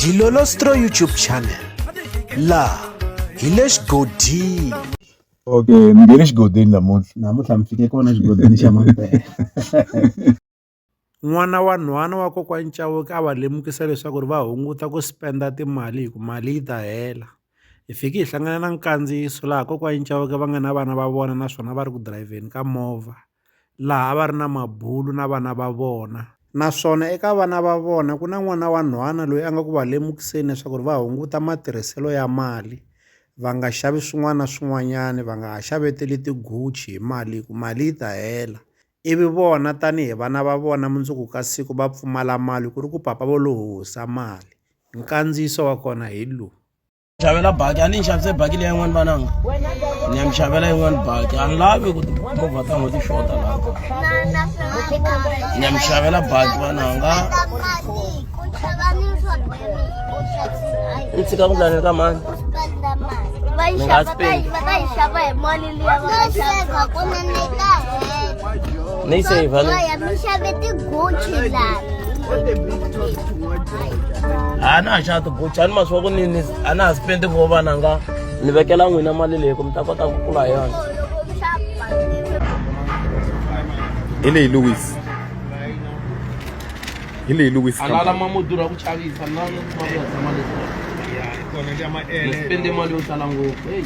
Dilolostro YouTube channel la hi le xigodini okay mi nge le xigodini namuntlha namuntlha mi fike kona xigodini xa mampela n'wana wa nhwana wa kokwani Chauke a va lemukisa leswaku ri va hunguta ku spenda timali hi ku mali yi ta hela hi fiki hi hlangana na nkandziyiso laha kokwani Chauke va nga na vana va vona naswona va ri ku dirayivheni ka movha laha a va ri na mabulu na vana va vona. Naswona eka vana va vona ku na n'wana wa nhwana loyi a nga ku va lemukiseni leswaku va hunguta matirhiselo ya mali, va nga xavi swin'wana na swin'wanyana, va nga ha xaveteli ti-Gucci hi mali hi ku mali yi ta hela. Ivi vona tanihi vana va vona mundzuku ka siku va pfumala mali ku ri ku papa vo lo hosa mali. Nkandziyiso wa kona hi lowu. xavela baki a ni nxavise baki leya yin'wana vananga ni ya mi xavela yin'wana baki a ni lavi ku timovha ta n'hweti xota laha ni ya mi xavela baki vananga ni tshika ku ndlaneni ka mani ni nga spend ni yi save ni a na ha xana tibucha ni masiku ya ku ni ni a na ha sipendi vo vana nga ni vekela n'wina mali leyi ku mi ta kota ku kula hi yona hi leyi lewis hi leyi lewis a lala ma mo durha ku chavisa ni lava ni kuma ku ya tshama leswi ni sipende mali yo tala ngopfu heyi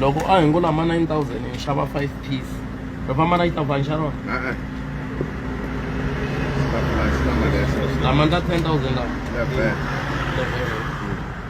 loko a hi ngo lama 9000 hi xava 5 piece ri famba na xitafani xa rona lama ndza 10000 lawa